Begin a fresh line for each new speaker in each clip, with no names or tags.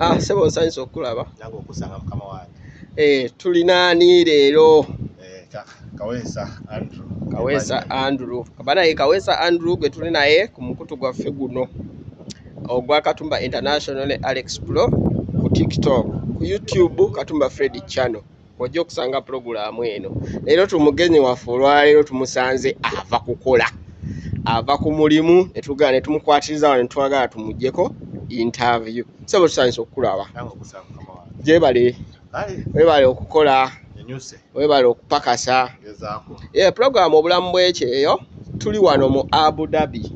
Ah, sebo nsanyusa okukulaba nange okusanga mukama
wange eh, tulina
ani leero eh, kawesa andrew
kawesa andrew kabanaye
kawesa andrew gwe tuli naye ku mukutu gwaffe guno ogwa katumba international ne alex pro ku tiktok ku youtube katumba fredi channel ojja okusanga pulogulaamu eno leero tumugenyi waffe olwaleero tumusanze ava kukola ava ku mulimu netugala netumukwatiriza wano netwagala tumugjeko interview sebo tusanyisa okukulaba
gyebale
webale okukola webale okupakasa ye pulogulaamu obulamu bwekyeyo tuli wano mu abu dhabi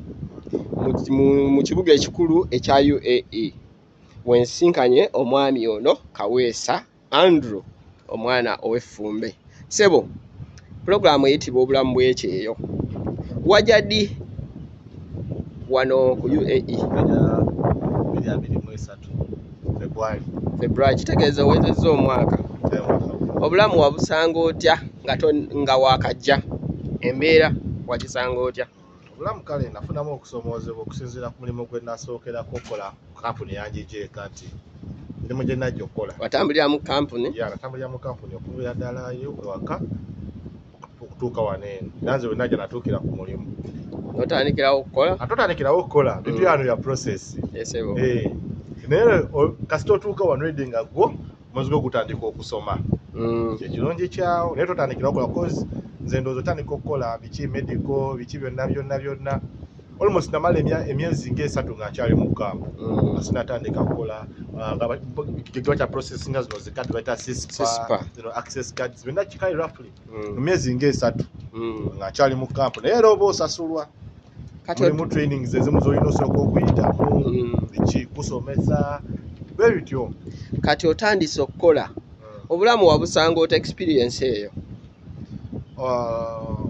mu kibuga ekikulu ekya uae wensinkanye omwami ono kaweesa andrew omwana ow'effumbe sebo pulogulaamu eyitibwa obulamu bwekyeyo wajadi wano ku uae february kitegeeza owezezza omwaka obulamu wabusanga otya nga wakajja embeera wakisanga otya obulamu kale
nafunamu okusomoozebwa okusinziira ku mulimu gwe nasookerako okukola kampuni yanjijeeka nti mirimu gye najja okukola watambulira mu kampuni
ya natambulira mu kampuni
okubeera ddalayo ewaka okutuuka wano eno era nze wenajja natuukira ku mulimu notandikirawo
okukola atotandikirawo okukola
bitu yano ya process esebo eh. naye kasita otuuka wano edi nga gwo omwezi gwo gutandika okusoma mm. kyekirungi kyawo naye totandikira okola bcause nze ndowooza otandika okukola biki medico biki byonna byonna byonna almost namala emyezi ngaesatu nga nkyali mu kampu mm. sinatandika kukola uh, kigiwa kya process nga zino zikadi baita sispa access cards byonna kikali roughly mm. mu myezi ngaesatu mm. ngaakyali mu kampu naye era oba osasulwa mulimu trainings ezimu zolina osooka okuyitamu mm. ekikusomesa bwe bityo kati otandise
okukola obulamu wabusanga ota experience eyo uh,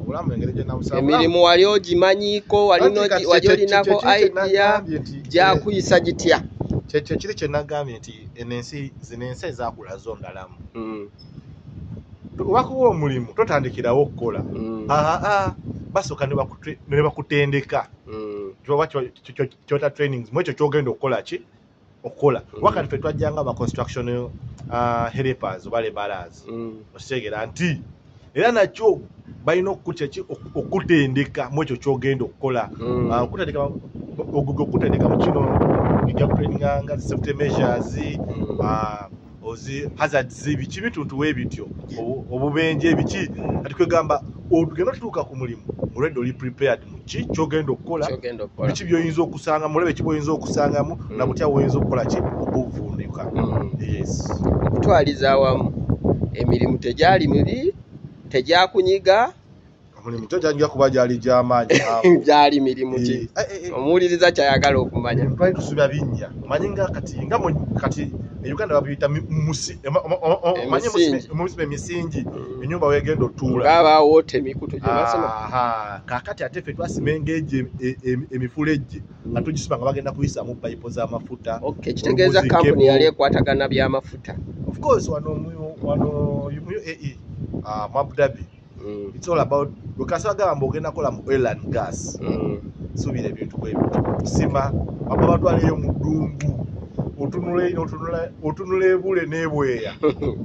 emirimu wali ogimanyiiko wali olinako idea gyakuyisa gitya kyekyo kiri
kyenagambye nti eno ensi zino ensi ezakula zondalamu mm. wakuwa omulimu totandikirawo okukola mm. ah, ah, basooka nebakutendeka mm. kyota trainings mu ekyo kyogenda okukola ki okukola mm. wakati fe twajjanga ba construction ah, helpers oba lebalas okitegeera nti era nakyo balina okukutyaki okutendeka mu ekyo kyogenda okukola okutendeka mu kino ija kutraininganga safety measures ozi hazard zibi kibi tuntu webityo obubenje ebiki ati kwegamba ogenda tutuuka ku mulimu already oli prepared muki kyogenda okukola biki byoyinza okusanga mulebe ki bwoyinza okusangamu mm. nabutya woyinza okukola ki obuvunduka mm. yes
okutwaliza awamu emirimu tegyali mibi tegyakunyiga omulimu
kyo kyajja kuba gyali gyamaanyi gyali mirimu
ki eh, eh, eh. omuwuliriza kyayagala okumanya twali tusuubya binnya
manyi nga kati nga kati e uganda babiyita musiba emisingi mm. enyumba wegenda otuulaabawoota emikutu
gyebasima kakati ate fe
twasima engeji e, e, emifula ejje mm. nga tugisiba nga bagenda kuyisamu payipo z'amafuta kitegeeza
kampuni yali ekwatagana by'amafuta ofcourse wano
wano mu uae ah, mu abudabie mm. it's all about lukasa agamba mbu ogenda kola mu oil and gas mm. subira ebintu bwebiti kusima baba batwaleyo mu ddungu otunula ebule nebweya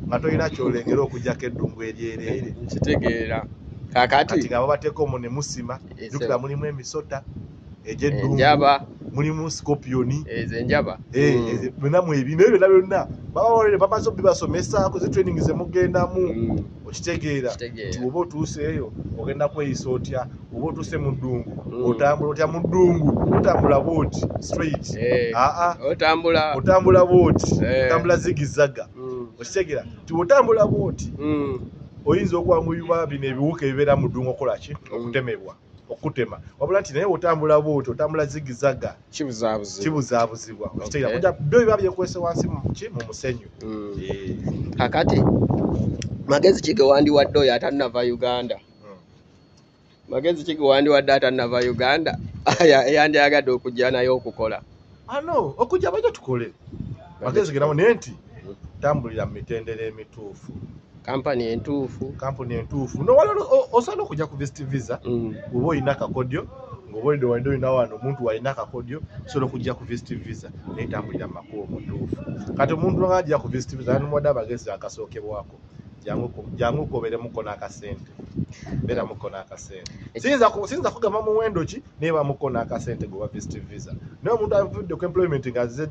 nga tolina kyolengera okujjako eddungu eryereere nkitegeera
kakati ngabo bateeka omu ne
musima jukira mulimu emisota egy'eddungu mulimu scorpioni ezo enjaba eh,
mm. eh, byonna
mwebi naye byonna byonna babawaire bamaze obibasomesa ku zi training ze mugendamu mm. okitegeera nti oba otuuse eyo ogenda kweyisa otya oba otuuse mu ddungu mm. otambula otya mu ddungu otambula booti straight eh, aa otambula booti otambula zigizaga okitegeera nti otambula booti oyinza okwanguyibwa bino ebiwuka ebibeera mu ddungu okolaki okutemebwa okutema wabula nti naye otambula bwoti otambula zigizaga kibuzabuzibwa okiteera kuja byo biba byekwese wansi muki mu musenyu mm.
eh. kakati magezi ki gewandiwadde oyo atanava uganda hmm. magezi ki gewandiwadde atanava uganda yandyagadde okujja naye okukola ano ah, okujja
bajja tukole bagezegerawo naye nti tambulira mu mitendera emituufu kampani
entuufu kampuni entuufu nowala
osana okujja ku vist visa mm. oba olina akakodyo ngobaolide walide olina wano omuntu walina akakodyo osobola okujja ku vist visa naye tambulira mu makubo mutuufu kati omuntu ngaajja ku vist visa anomuwadde abagezi akasookebwako jangu kuberemuko nakasente beramuko nakasente siyinza kugamba muwendo ki naye bamuko nakasente gwe wavist visa naye omuntu avudde ku employment nga azze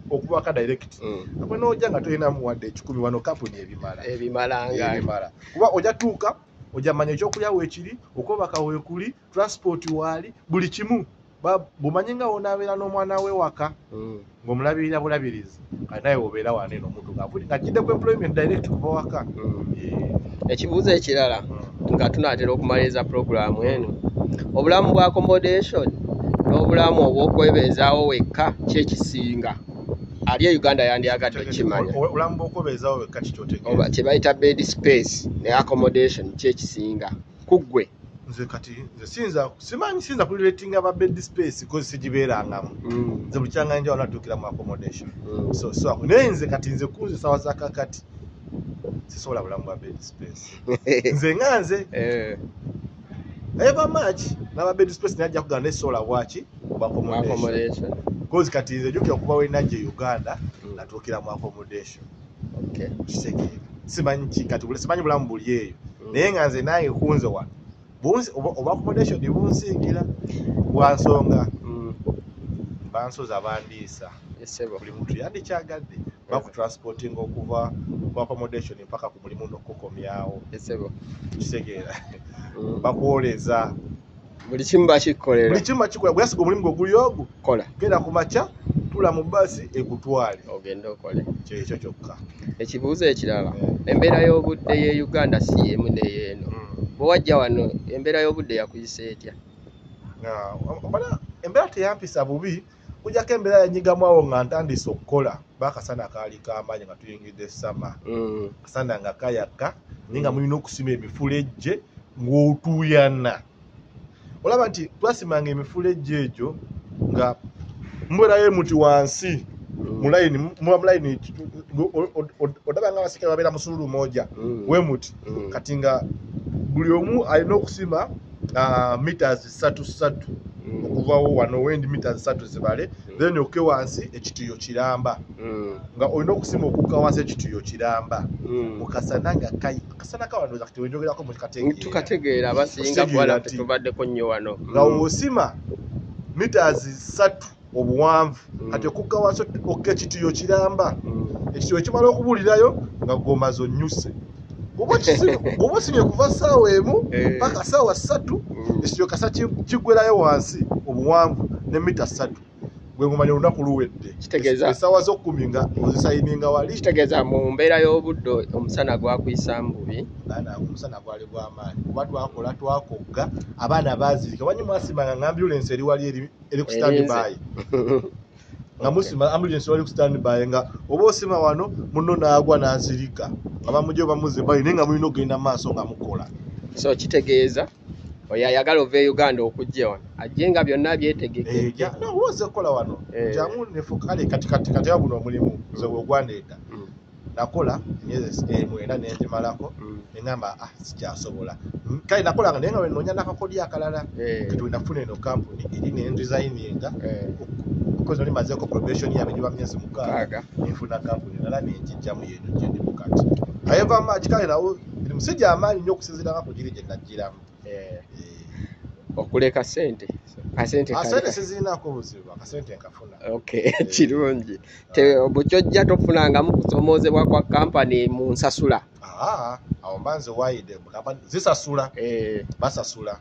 okubaka direct mm. akwe noja nga tolinamu wadde ekikumi wano kampuni ebimala ebimala kuba oja tuuka ojamanya ekyokulya wekiri okubaka wekuli transport waali buli kimu bumanyi nga wonabeera n'omwana we waka mm. ng'omulabirira bulabirizi kati naye obeera wane n'omuntu ngavuli ngajjidde ku employment direct kuva waka mm. eh.
ekibuuzo ekirala mm. nga tunaatera okumaliriza puroguramu eno obulamu bwa accommodation n'obulamu obw'okwebeezaawo wekka kyekisinga ali e uganda yandyagadde okukimanya
kyebayita bed
space ne accommodation kyekisinga kuggwe nze kati
nze sinza simanyi sinza kuli rating aba bed space cause sijibera ngamu mm. nze buchanga nje wala tukira mu accommodation mm. so so ne nze kati nze kunze sawa za kakati sisola bulamu ba bed space nze nganze eh ever much na ba bed space naja kuganda sola wachi ba accommodation cause kati nze jukira kuba we naje uganda mm. natukira mu accommodation okay. kitegeera simanyi kikati simanyi bulamu buli eyo mm. naye nga nze nange kunze wano oba accommodation bunsingira bwansonga mm. bansoza bandiisa buli muntu yandikyagadde bakutransportinga okuva mu accommodation mpaka ku mulimu nokukomyawo kitegeera mm. bakwoleza buli
kimu bakikolera buli kimu bakikola gwe yasiga omulimu
gwe guli ogwo kola genda ku makya tula mu basi ekutwale ogende okole
kyekyo kyokka
ekibuuzo ekirala
eh. embeera y'obudde ye uganda si yemu neyeeno hmm. bwe wajja wano embeera y'obudde yakuyisa etya
embeera teyampisa bubi mm. kujako embeera yanyigamu awo nga ntandise okukola bakasana kaali kamaanyi nga tuyingidde sama mm. kasana nga kayaka naye nga mulina okusima emifulejje ng'otuuyana olaba nti twasimanga emifulejje egyo nga mubeerayo muti wansi mm. mulayini muba mulayini odaba nga abasika babeera musululu moja mm. we muti kati nga buli omu alina okusima ah, meters satu satu mm. okuvawo wano wendi mita satu zibale mm. then oke wansi ekituyo kiramba mm. nga olina okusima okuka wansi ekituyo kiramba mukasana nga kai akasana kawano kati wenjogerako mukategeera
abasinga kuwala tetubaddeko nnyo wano nga wosima
mitas satu obuwanvu mm. kati okugga wansi okka ekitiyo kiramba mm. ekitiyo ekimala okubuulirayo nga gomazi onyuse bwoba osimye kuva saawa emu eh. paka saawa satu mm. ekitiyo kasa kigwerayo wansi obuwanvu ne mita satu gwegumanya olunaku luwedde esaawa zokumi nga ozisayininga wali kitegeeza mu mbeera
y'obudde omusana gwakuyisa mububi baana omusana gwali
gwamaanyi kuba twakola twakogga abaana baazirika wanyi mwasimanga nga ambulensi eri wali eri eri ku stand Erinze. by nga Okay. musima ambulance wali ku stand by nga oba osima wano munno n'agwa n'azirika nga bamugye bamuze bali naye nga mulina okugenda mu maaso nga mukola so kitegeeza
oyo ayagala ova e uganda okujja wano ajje nga byonna Eh, byetegeke ja- no, oba ozze kukola
wano Eh. jamu nefuka kale kati kati kati awo guno omulimu nze wegwandeeta Mm. nakola emyezi eh, mwenda nenjimalako mm. nengamba ah sikyasobola mm, kale nakolanga naye nga wenoonya nakakodyo akalala eh. kati wenafuna eno kampuni eri nendisayininga eh. kozi oli mazeko probation yange giba myezi mukaaga nenfuna kampuni nala nenjijjamu yeno gyendi mukati ayeva maki kale nawo ndi musajja amaanyi nyo okusinziranga ku giri gye najjiramu
okuleka sente asente ah,
sizirinako buzibu akasente nkafuna kirungi
bukyojja tofunangamu kusomoozebwa kwa kampani mu nsasula ah, awo
mba nze wayide zisasula eh. basasula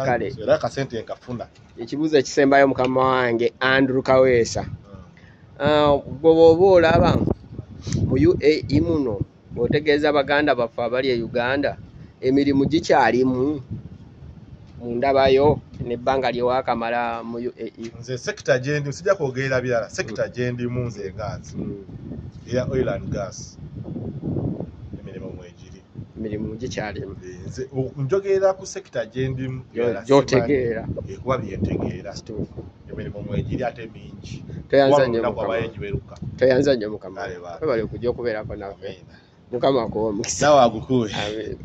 kale era kasente nkafuna ekibuuzo ekisembayo
mukama wange andrew kaweesa hmm. ah, gwe bwoba olaba mu uae muno otegeeza baganda baffe abali e uganda emirimu gikyalimu mu ndabayo nebbanga lyewakamala mu uae nze sekita gyendi
sijja kwogerera birala sekita mm. gyendimu nze enganzi mm. eya oil and gas emirimu mwegiri
emirimu gikyalimu
njogerera ku sekita gyendimu gyotegeera
ekuba byentegeera
emirimu mwegiri ate mingi
tweyanza nnyo mukama webale okujja okubeerako nawe mukama akuwe
omukisa